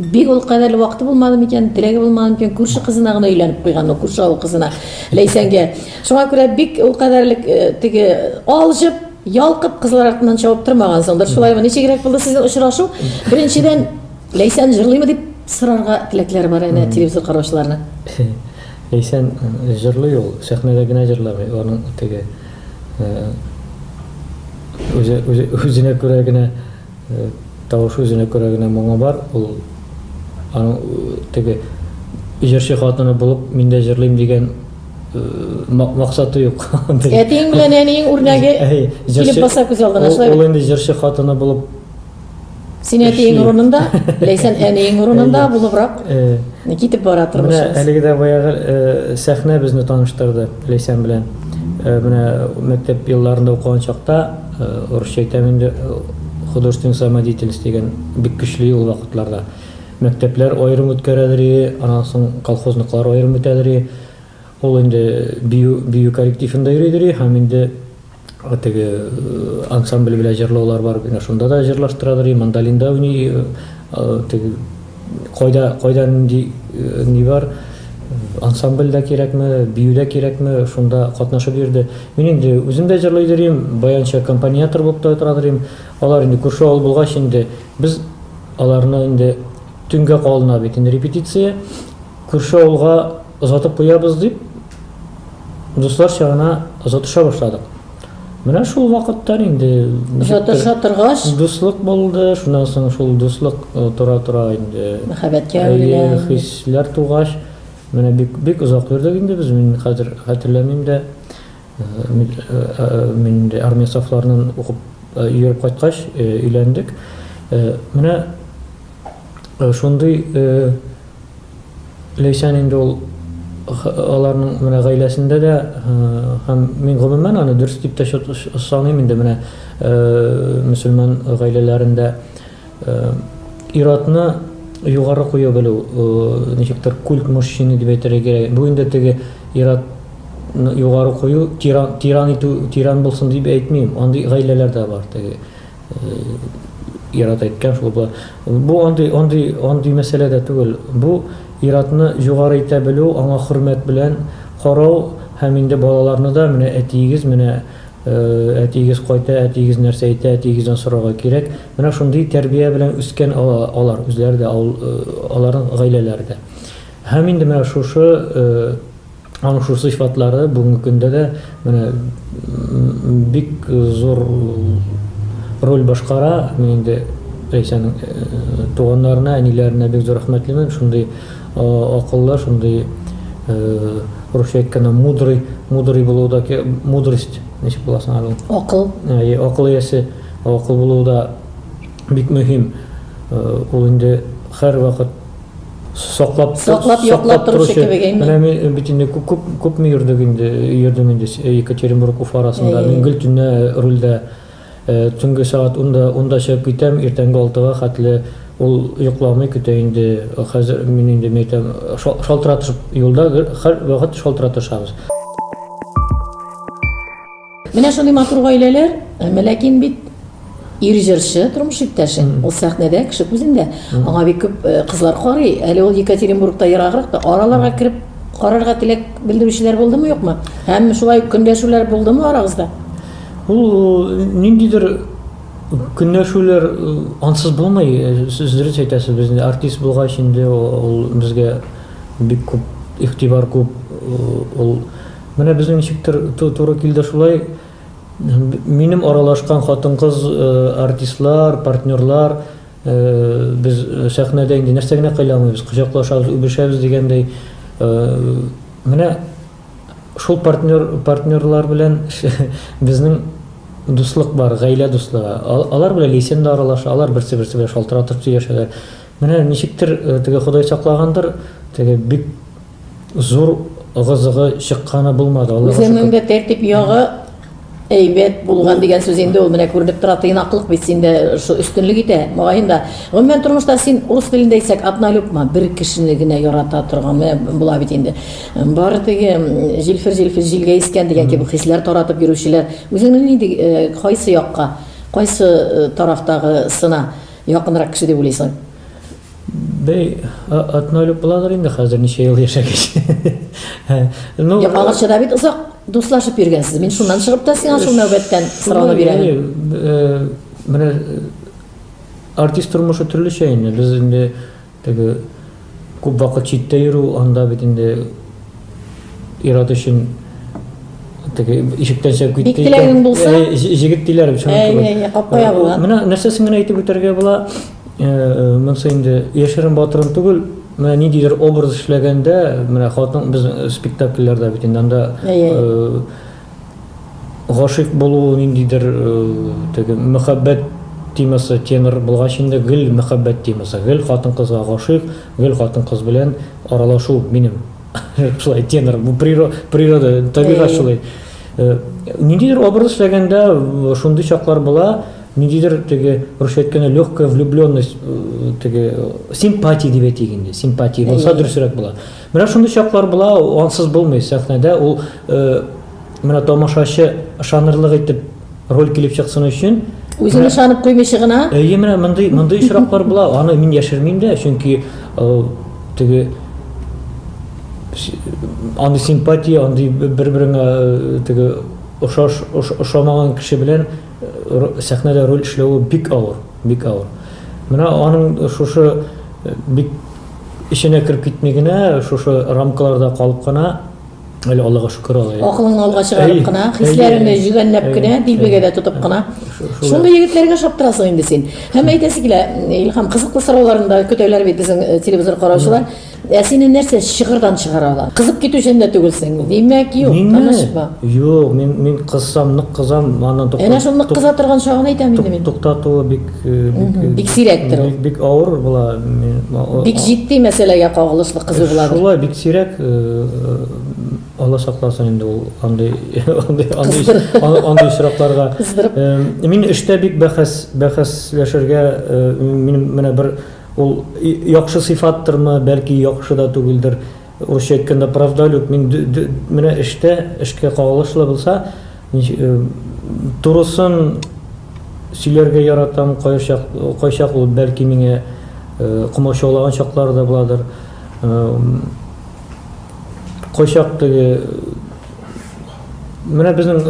Бик ул кадәрле вакыты булмады микән, теләге булмады микән, күрше кызына гына өйләнеп куйган ул, күрше авыл кызына, Ләйсәнгә. Шуңа күрә бик ул кадәрле э, теге алҗып, ялкып кызлар артыннан чабып тормаган соңдыр. Шулаймы? Ничегрәк булды сезнең очрашу? Беренчедән, Ләйсән җырлыймы дип сорарга теләкләре бар әнә телевизор караучыларның. Ләйсән э, җырлый ул, сәхнәдә генә җырламый, аның теге э, үзе, үзе, үзенә күрә генә Тавышы үзенә күрә генә моңы бар, ул аның теге җырчы хатыны булып мин дә җырлыйм дигән максаты юк. Әтиең белән әниең үрнәге килеп баса күз алдына, шулай бит? Ул инде җырчы хатыны булып Син әтиең урынында, Ләйсән әниең урынында булыбрак китеп бара тормышыбыз. Менә әлеге дә баягы сәхнә безне таныштырды Ләйсән белән. Менә мәктәп елларында укыган чакта Урысча әйтәм инде, художественный самодеятельность дигән бик көчле ул вакытларда. Мәктәпләр аерым үткәрәдер и, аннан соң колхозныклар аерым үтәдер и. Ул инде бию, бию коллективында йөридер и һәм инде теге ансамбль белән җырлаулар бар, менә шунда да җырлаштырадыр и, мандолинда уйный и, теге. Кайда, кайда нинди ни бар, ансамбль дә кирәкме, бию дә кирәкме, шунда катнашып йөрде. Мин инде үзем дә җырлый йөрим, баянчы аккомпаниатор булып та тора йөрим. Алар инде күрше авыл булгач инде, без аларны инде төнгә калына бит инде репетиция, күрше авылга озатып куябыз дип, Дуслар чагына озатыша башладык. Менә шул вакытта инде озатыша торгач, дуслык булды. Шуннан соң шул дуслык э, тора-тора инде мәхәббәткә әйләнде. Э, хисләр тугач, менә бик бик озак йөрдек инде без. Мин хәзер хәтерләмим дә. Э, мин инде армия сафларыннан укып йөреп кайткач, өйләндек. Менә шундый Ләйсән инде ул аларның менә гаиләсендә дә һәм мин гомумән аны дөрес дип тә саныйм инде менә мөселман гаиләләрендә ир-атны югары куя белү ничектер культ мужчины дип әйтергә кирәк бу инде теге ир-ат югары кую тиран тиран итү тиран булсын дип әйтмим андый гаиләләр дә бар теге Ират әйткән шул бу. Бу андый андый андый мәсьәлә дә түгел. Бу иратны югары итә белү, аңа хөрмәт белән карау һәм инде балаларны да менә әтиегез менә әтиегез кайта, әтиегез нәрсә әйтә, әтиегездән сорарга кирәк. Менә шундый тәрбия белән үскән алар үзләре дә, аларның гаиләләре дә. Һәм инде менә шушы Аның шул сыйфатлары бүгенге көндә дә менә бик зур роль башкара. Мин инде Рәйсәнең туганнарына, әниләренә бик зур рәхмәтлемен. Шундый акыллы, шундый русча әйткәндә мудрый, мудрый булуы да, мудрость, ничек була соң аны? Акыл. Әйе, акыл иясе, акыл булуы да бик мөһим. Ул инде һәрвакыт Саклап, саклап, яклап торучы кебек әйме? Менә мин бит инде күп күп күпме йөрдек инде, йөрдем инде Екатеринбург Уфа арасында. Мин гел төнлә рульдә төнге сәгать 10-да 10-да чыгып китәм, иртәнге 6-га хәтле ул йокламый көтә инде. Хәзер мин инде мәйтәм, шалтыратышып юлда һәр вакыт шалтыратышабыз. Менә шундый матур гаиләләр, әмма ләкин бит ир җырчы, тормыш иптәшең, ул сәхнәдә, кеше күзендә. Аңа бик күп э, кызлар карый. Әле ул Екатеринбургта ераграк та, араларга кереп карарга теләк белдерүчеләр булдымы, юкмы? Һәм шулай ук көнләшүләр булдымы арагызда? Ул э, ниндидер көнләшүләр э, ансыз булмый. Э, Сез дөрес әйтәсез, без инде артист булгач инде ул ул безгә бик күп игътибар күп, э, ул Менә безнең ничектер туры килде шулай. Минем аралашкан хатын-кыз артистлар, партнерлар, без сәхнәдә инде нәрсә генә кыйлә алмыйбыз, кочаклашабыз, үбешәбез дигәндәй. Менә шул партнер, партнерлар белән безнең дуслык бар, гаилә дуслыгы. Алар белән Лейсен дә аралаша, алар берсе-берсе белән шалтыратып сөйләшәләр. Менә ничектер теге Ходай саклагандыр, теге бик Зур ыгы-зыгы чыкканы булмады, Аллага шөкер. Үземеңдә тәртип ягы әйбәт булган дигән сүз инде ул, менә күренеп тора, тыйнаклык бит синдә шул өстенлек итә. Мөгаен да, гомумән тормышта син урыс телендә әйтсәк, одна любма, бер кешене генә ярата торган, менә була бит инде. Бары теге җилфер-җилфер җилгә искән дигән кебек хисләр таратып йөрүчеләр. Үзеңне нинди, кайсы якка, кайсы тарафтагысына якынрак кеше дип уйлыйсың? Бей, атна өлеп буладыр инде хәзер ничә ел яшәгәч. Ну, я калгача да бит озак дуслашып йөргәнсез. Мин шуннан чыгып та сиңа шул нәүбәттән сорауны бирәм. Э, менә э, артист тормышы төрлечә инде. Без инде теге күп вакыт читтә йөрү, анда бит инде ират өчен теге ишектән чыгып китте. Бик теләгең булса, э, җигет диләр бит. Әйе, әйе, капка ябыла. Менә нәрсәсен генә әйтеп үтәргә була. Монысы инде яшерен батырын түгел, менә ниндидер образ эшләгәндә, менә хатын без спектакльләрдә бит инде анда гашыйк булу ниндидер теге мәхәббәт темасы тенор булгач инде гел мәхәббәт темасы, гел хатын-кызга гашыйк, гел хатын-кыз белән аралашу минем шулай тенор, бу природа, табигать шулай. Ниндидер образ эшләгәндә шундый чаклар була, Ниндидер теге русча әйткәндә легкая влюбленность теге симпатия дип әйтик инде. Симпатия булса дөресрәк була. Менә шундый чаклар була, ансыз булмый сәхнәдә. Ул менә тамашачы ышанырлык итеп роль килеп чыксын өчен үзен ышанып куймыйча гына әйе менә мондый мондый очраклар була аны мин яшермим дә чөнки теге андый симпатия андый бер береңә теге ошаш ошамаган кеше белән сәхнәдә роль эшләве бик авыр, бик авыр. Менә аның шушы э, бик эченә кереп китми генә, шушы рамкаларда калып кына, әле Аллага шөкер алай. Акылыңны алга чыгарып кына, хисләреңне җүгәнләп кенә, дилбегәдә тотып кына. Шундый егетләргә шаптырасың инде син. Һәм әйтәсе килә, Илһам, кызыклы сорауларны да көтәләр бит безнең э, телевизор караучылар. Ә сине нәрсә чыгырдан чыгара ала? Кызып китүчән дә түгелсең. Димәк, юк, танышма. Юк, мин мин кызсам, нык кызам, аны туктату. Әнә шул нык кыза торган чагын әйтәм инде мин. Туктатуы бик бик бик сирәктер ул. Бик авыр була. Бик җитди мәсьәләгә кагылышлы кызу була. Шулай бик сирәк Алла сакласын инде ул андый андый андый андый очракларга. Мин эштә бик бәхәс бәхәсләшергә минем менә бер Ул яхшы сыйфаттырмы, бәлки яхшы да түгелдер, урысча әйткәндә правдолюб, мин менә эштә, эшкә кагылышлы булса, турысын сөйләргә яратам, кайчак ул бәлки миңа комачаулаган чаклары да буладыр, кайчак теге, менә безнең,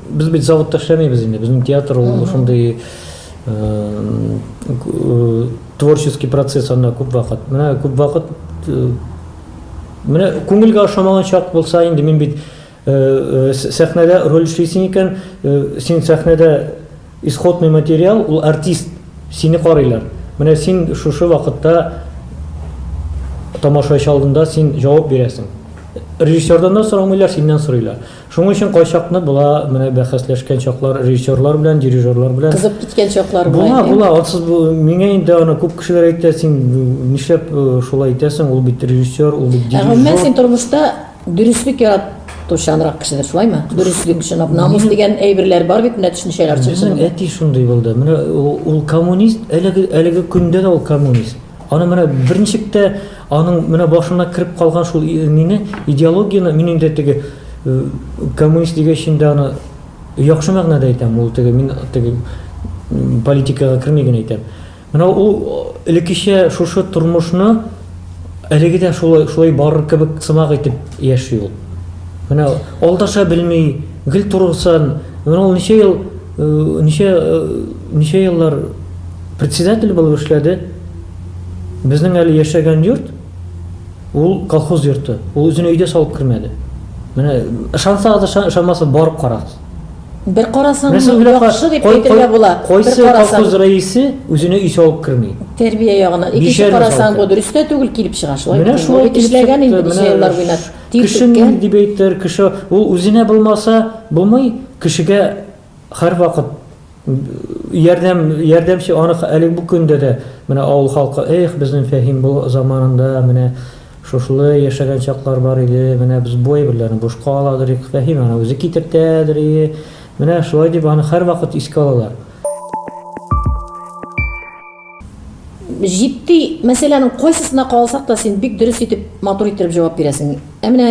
без бит заводта эшләмибез инде, безнең театр ул шундый. Творческий процесс анда күп вакыт. Менә күп вакыт менә күңелгә ошамаган чак булса инде мин бит сәхнәдә роль эшлисең икән, син сәхнәдә исходный материал, ул артист, сине карыйлар. Менә син шушы вакытта тамашачы алдында син җавап бирәсең. Режиссердан да сорамыйлар, синнән сорыйлар. Шуның өчен кайчакны була, менә бәхәсләшкән чаклар режиссерлар белән, дирижерлар белән. Кызып киткән чаклар була. Була, була. Атсыз бу миңа инде аны күп кешеләр әйтә, син нишләп шулай итәсең? Ул бит режиссер, ул бит дирижер. Ә гомумән син тормышта дөреслек ярат Тушанрак кешеләр шулаймы? Дөреслек өчен намус дигән әйберләр бар бит, менә төшенчәләр чыгышы. Безнең әти шундый булды. Менә ул коммунист, әлеге әлеге көндә дә ул коммунист. Аны менә берничек тә аның менә башына кереп калган шул мине идеологияне мин инде теге э, коммунист дигәч инде аны яхшы мәгънәдә әйтәм, ул теге мин теге политикага керми генә әйтәм. Менә ул элеккечә шушы тормышны әлеге дә шулай шулай барыр кебек сымак итеп яши ул. Менә алдаша белми, гел турыгсан, менә ул ничә ел Ничә ничә еллар председатель булып эшләде. Безнең әле яшәгән йорт ул колхоз йорты. Ул үзен өйдә салып кермәде. Менә ышансагыз да ышанмасагыз барып карагыз. Бер карасаң, яхшы дип әйтергә була. Кайсы колхоз рәисе үзенә өй салып керми? Тәрбия ягыннан. Икенче карасаң, бу дөрес тә түгел, килеп чыга шулай. Менә шулай эшләгән инде ничә еллар буена. Кеше мин дип әйтер, кеше ул үзенә булмаса, булмый, кешегә һәрвакыт ярдәм, ярдәмче анык әле бу көндә дә менә авыл халкы, эх, безнең Фәһим бу заманында менә шушылы яшәгән чаклар бар иде, менә без бу әйберләрне бушка аладыр идек, Фәһим аны үзе китертәдер ие, менә шулай дип аны һәрвакыт искә алалар. Җитди мәсьәләнең кайсысына калсак та, син бик дөрес итеп, матур иттереп җавап бирәсең. Ә менә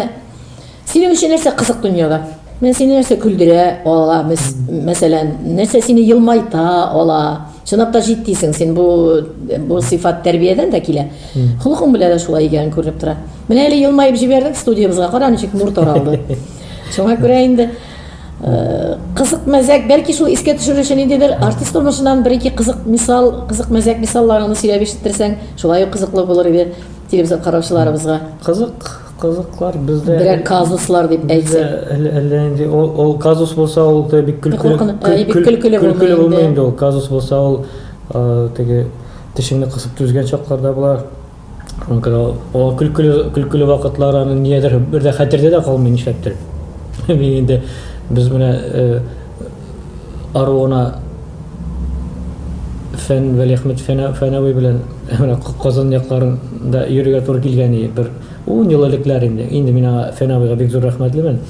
синең өчен нәрсә кызык дөньяда? Менә сине нәрсә көлдерә ала, мәсәлән, нәрсә сине елмайта ала? Чынлап та җитдисең син, бу бу сыйфат тәрбиядән дә килә. Холкың белән дә шулай икәнен күренеп тора. Менә әле елмаеп җибәрдең студиябезгә, кара ничек нур таралды. Шуңа күрә инде Кызык мәзәк, бәлки шул искә төшерер өчен ниндидер артист тормышыннан бер-ике кызык мисал, кызык мәзәк мисалларыңны сөйләп ишеттерсәң, шулай ук кызыклы булыр иде телевизор караучыларыбызга. Кызык, кызыклар бездә. Берәр казуслар дип әйтсә. Әллә әллә инде ул, ул казус булса, ул да бик көлкеле, көлкеле булмый инде ул. Казус булса, ул теге тешеңне кысып түзгән чаклар да була. Шуңа күрә ул көлкеле, көлкеле вакытлар аның ниядер бер дә хәтердә дә калмый нишләптер. Мин инде без менә э, аруына Фән Вәлиәхмәт Фәнәви белән менә Казан якларында йөрергә туры килгән иде бер ун ел элекләр инде. Инде мин аңа Фәнәвига бик зур рәхмәтлемен.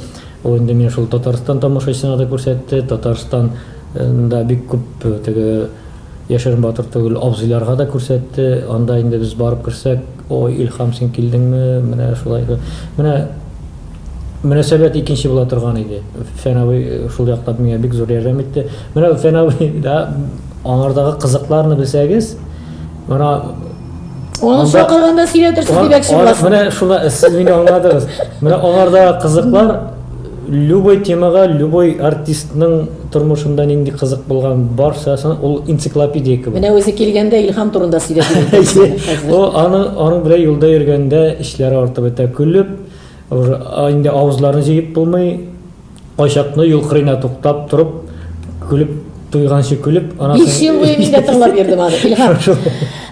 Ул инде миңа шул Татарстан тамашачысына да күрсәтте, Татарстанда бик күп э, теге Яшерен батыр түгел, абзыйларга да күрсәтте, анда инде без барып керсәк, Ой, Илһам, син килдеңме, менә шулай итеп. Менә мөнәсәбәт икенче була торган иде. Фән абый шул яклап миңа бик зур ярдәм итте. Менә Фән абый да аңардагы кызыкларны белсәгез, менә Аны чакырганда сөйләтерсез димәкче буласыз. Менә шуны сез мине аңладыгыз. Менә аңардагы кызыклар Любой темага, любой артистның тормышында нинди кызык булган барчасын ул энциклопедия кебек. Менә үзе килгәндә Илһам турында сөйләп йөрде сиңа хәзер. О, аны, аның белән юлда йөргәндә эчләре артып бетә, көлеп, уже инде авызларын җыеп булмый, кайчакны юл кырыена туктап торып, көлеп. Туйганчы көлеп, анасы... Биш ел буе мин дә тыңлап йөрдем аны, Илһам.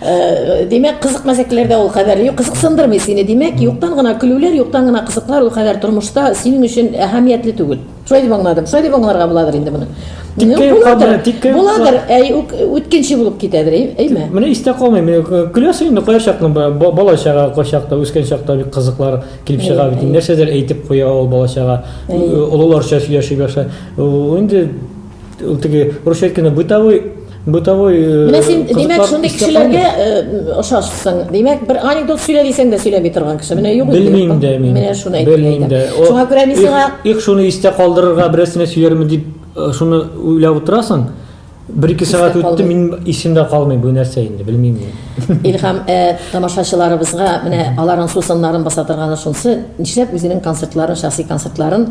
Э, димәк, кызык мәсәкәләрдә ул кадәр юк, кызыксындырмый сине. Димәк, юктан гына көлүләр, юктан гына кызыклар ул кадәр тормышта синең өчен әһәмиятле түгел. Шулай дип аңладым. Шулай дип аңларга буладыр инде моны. Буладыр, буладыр, әй үткенче булып китәдер, әйме? Менә истә калмый, мин э, көләсең инде кая чакны бала чага кая чакта, үскән чакта бик кызыклар килеп чыга бит. Нәрсәдер әйтеп куя ул бала чага. Э, олыларча сөйләшеп яшә. Инде Ул теге русча әйткәндә бытовой бытовой э, Менә син димәк шундый кешеләргә э, ошашсың. Димәк бер анекдот сөйлә дисәң дә сөйләми торган кеше. Менә юк. Белмим дә мин. Менә шуны әйтә. Белмим дә. Шуңа күрә мин сиңа их шуны истә калдырырга берәрсенә сөярмен дип э, шуны уйлап утырасың. Бер ике сәгать үтте, мин исемдә калмый бу нәрсә инде, белмим мин. Илһам, э, тамашачыларыбызга менә аларның сусыннарын баса торганы шунсы, нишләп үзенең концертларын, шәхси концертларын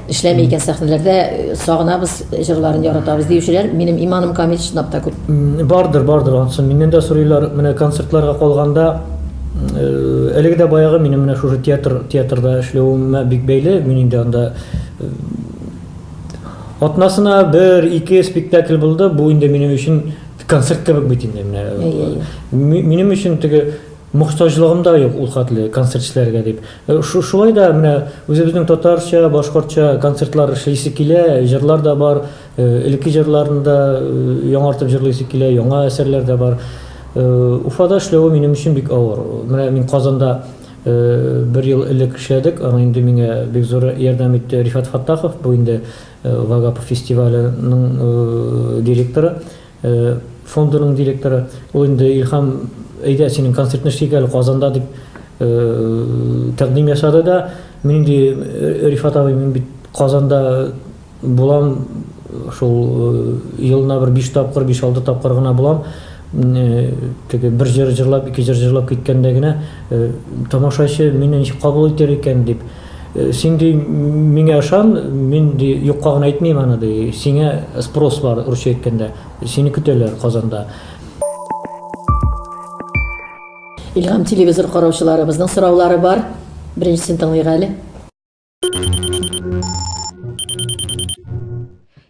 Эшләми икән сәхнәләрдә э, сагынабыз, җырларын яратабыз диючеләр, минем иманым камил чынлап та күп. Бардыр, бардыр ансын. Миннән дә сорыйлар, менә концертларга калганда э, әлеге дә баягы минем менә шушы театр театрда эшләвемә бик бәйле. Мин инде анда э, атнасына бер, ике спектакль булды. Бу инде минем өчен концерт кебек бит инде менә. Минем өчен теге Мохтаҗлыгым да юк ул хәтле концертчеләргә, дип. Шулай да менә үзебезнең татарча, башкортча концертлар эшлисе килә, җырлар да бар, элекке җырларны да яңартып җырлыйсы килә, яңа әсәрләр дә бар. Уфада эшләве минем өчен бик авыр. Менә мин Казанда бер ел элек эшләдек, аны инде миңа бик зур ярдәм итте Рифат Фаттахов, бу инде Вагапов фестиваленең директоры. Фондының директоры, ул инде, Илһам, әйдә, синең концертны эшлик әле Казанда, дип тәкъдим ясады да, мин инде, Рифат абый, мин бит Казанда булам, шул елына бер биш тапкыр, биш-алты тапкыр гына булам, теге бер җыр җырлап, ике җыр җырлап киткәндә генә тамашачы мине ничек кабул итәр икән, дип. Син ди миңа ышан, мин ди юкка гына әйтмим аны ди, сиңа спрос бар, русча әйткәндә, сине көтәләр Казанда. Илһам телевизор караучыларыбызның сораулары бар. Беренчесен тыңлыйк әле.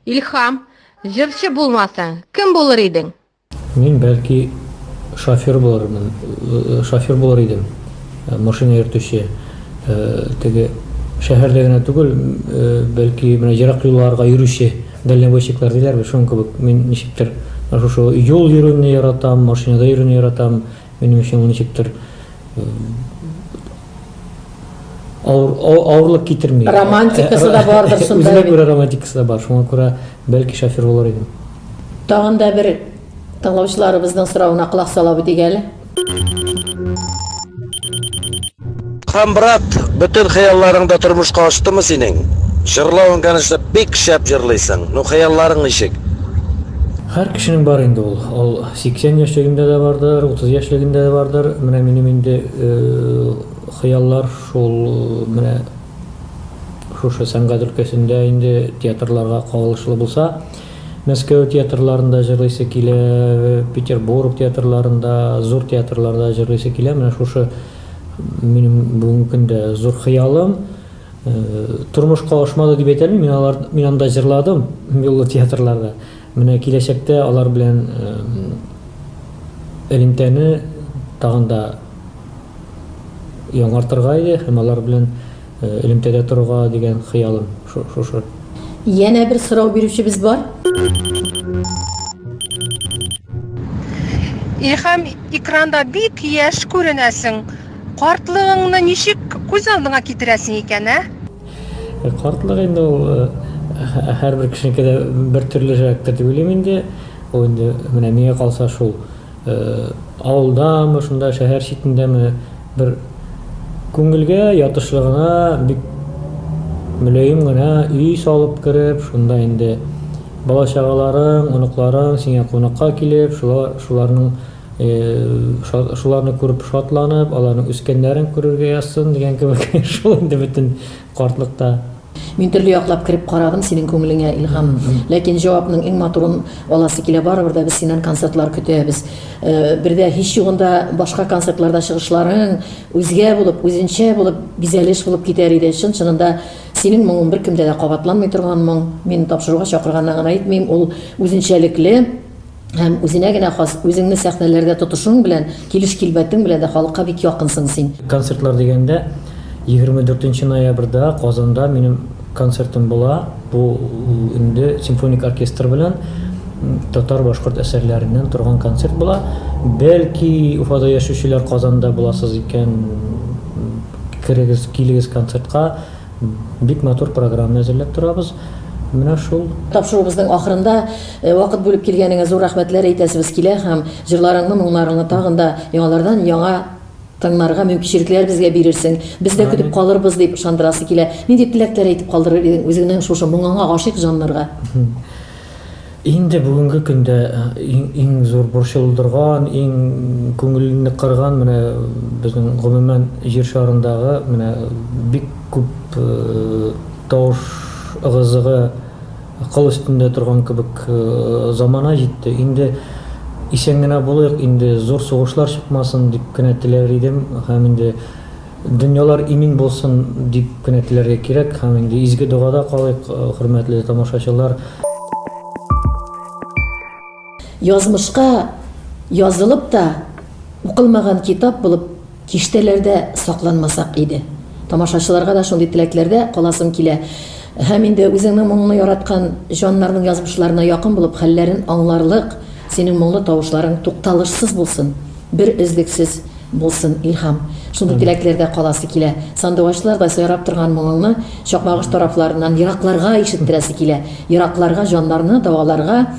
Илһам, җырчы булмасаң, кем булыр идең? Мин бәлки шофер булырмын, шофер булыр идем, машина йөртүче. Теге шәһәрдә генә түгел, бәлки менә ерак юлларга йөрүче дальнобойщиклар диләр бит, шуның кебек. Мин ничектер шушы юл йөрүне яратам, машинада йөрүне яратам. Минем өчен ул ничектер авыр, авырлык китерми. Романтикасы да бардыр шунда. Үзенә күрә романтикасы да бар, шуңа күрә. Бәлки шофер булыр идем. Тагын да бер тыңлаучыларыбызның соравына колак салабыз дик әле. Хан брат, бөтен хыялларың да тормышка аштымы синең? Җырлавың, конечно, бик шәп җырлыйсың. Ну, хыялларың ничек? Һәр кешенең бар инде ул. Ул 80 яшьлегендә дә бардыр, 30 яшьлегендә дә бардыр. Менә минем инде э, хыяллар шул э, менә шушы сәнгать өлкәсендә инде театрларга кагылышлы булса, Мәскәү театрларында җырлыйсы килә, Петербург театрларында, зур театрларда җырлыйсы килә. Менә шушы минем бүгенге көндә зур хыялым. Тормышка ашмады дип әйтә алмыйм, мин алар, мин анда җырладым, юллы театрларда. Менә киләчәктә алар белән элемтәне тагын да Яңартырга иде һәм алар белән элемтәдә торырга дигән хыялым шушы. Янә бер сорау бирүчебез бар. Илһам, экранда бик яшь күренәсең. Картлыгыңны ничек күз алдыңа китерәсең икән, ә? Картлык инде ул һәрбер кешенеке дә бертөрлерәктер дип уйлыйм инде. Ул инде менә миңа калса шул. Авылдамы, шунда шәһәр читендәме, бер күңелгә ятышлы гына, бик мөлаем гына өй салып кереп, шунда инде бала-чагаларың, оныкларың сиңа кунакка килеп, шулар, шуларның, шуларны күреп шатланып, аларның үскәннәрен күрергә язсын дигән кебек, шул инде бөтен. картлыкта. Мин төрле яклап кереп карадым синең күңелеңә, Илһам. Ләкин җавапның иң матурын аласы килә, барыбер дә без синнән концертлар көтәбез. Бер дә һич югында башка концертларда чыгышларың үзгә булып, үзенчә булып, бизәлеш булып китәр иде. Чын-чынында синең моңың беркемдә дә кабатланмый торган моң. Мин тапшыруга чакырганнан гына әйтмим, ул үзенчәлекле. Һәм үзенә генә хас үзеңне сәхнәләрдә тотышуың белән, килеш-килбәтең белән дә халыкка бик якынсың син. Концертлар дигәндә, 24 нче ноябрьдә Казанда минем концертым була. Бу инде симфоник оркестр белән татар-башкорт әсәрләреннән торган концерт була. Бәлки, Уфада яшүчеләр Казанда буласыз икән, керегез, килегез концертка. Бик матур программа әзерләп торабыз. Менә шул. Тапшыруыбызның ахырында. Вакыт бүлеп килгәнеңә зур рәхмәтләр әйтәсебез килә һәм җырларыңны, моңнарыңны тагын да яңалардан яңа тыңнарга мөмкинчелекләр безгә бирерсең. Без дә көтеп калырбыз, дип ышандырасы килә. Нинди теләкләр әйтеп калдырыр идең үзеңнең шушы моңыңа гашыйк җаннарга? Инде бүгенге көндә иң зур борчылдырган, иң күңелне кырган менә безнең гомумән җир шарындагы менә бик күп тавыш ыгы-зыгы, Акыл өстендә торган кебек замана җитте, инде исән генә булыйк, инде зур сугышлар чыкмасын, дип кенә теләр идем һәм инде дөньялар имин булсын, дип кенә теләргә кирәк һәм инде изге догада калыйк, хөрмәтле тамашачылар. Язмышка язылып та, укылмаган китап булып киштәләрдә сакланмасак иде. Тамашачыларга да шундый теләкләрдә каласым килә. Һәм инде үзеңнең моңны яраткан җаннарның язмышларына якын булып, хәлләрен аңларлык, синең моңлы тавышларың тукталышсыз булсын, бер өзлексез булсын, Илһам. Шундый теләкләрдә каласы килә. Сандугачлардай сайрап торган моңыңны Чакмагыш тарафларыннан еракларга ишеттерәсе килә, еракларга, җаннарны дәваларга.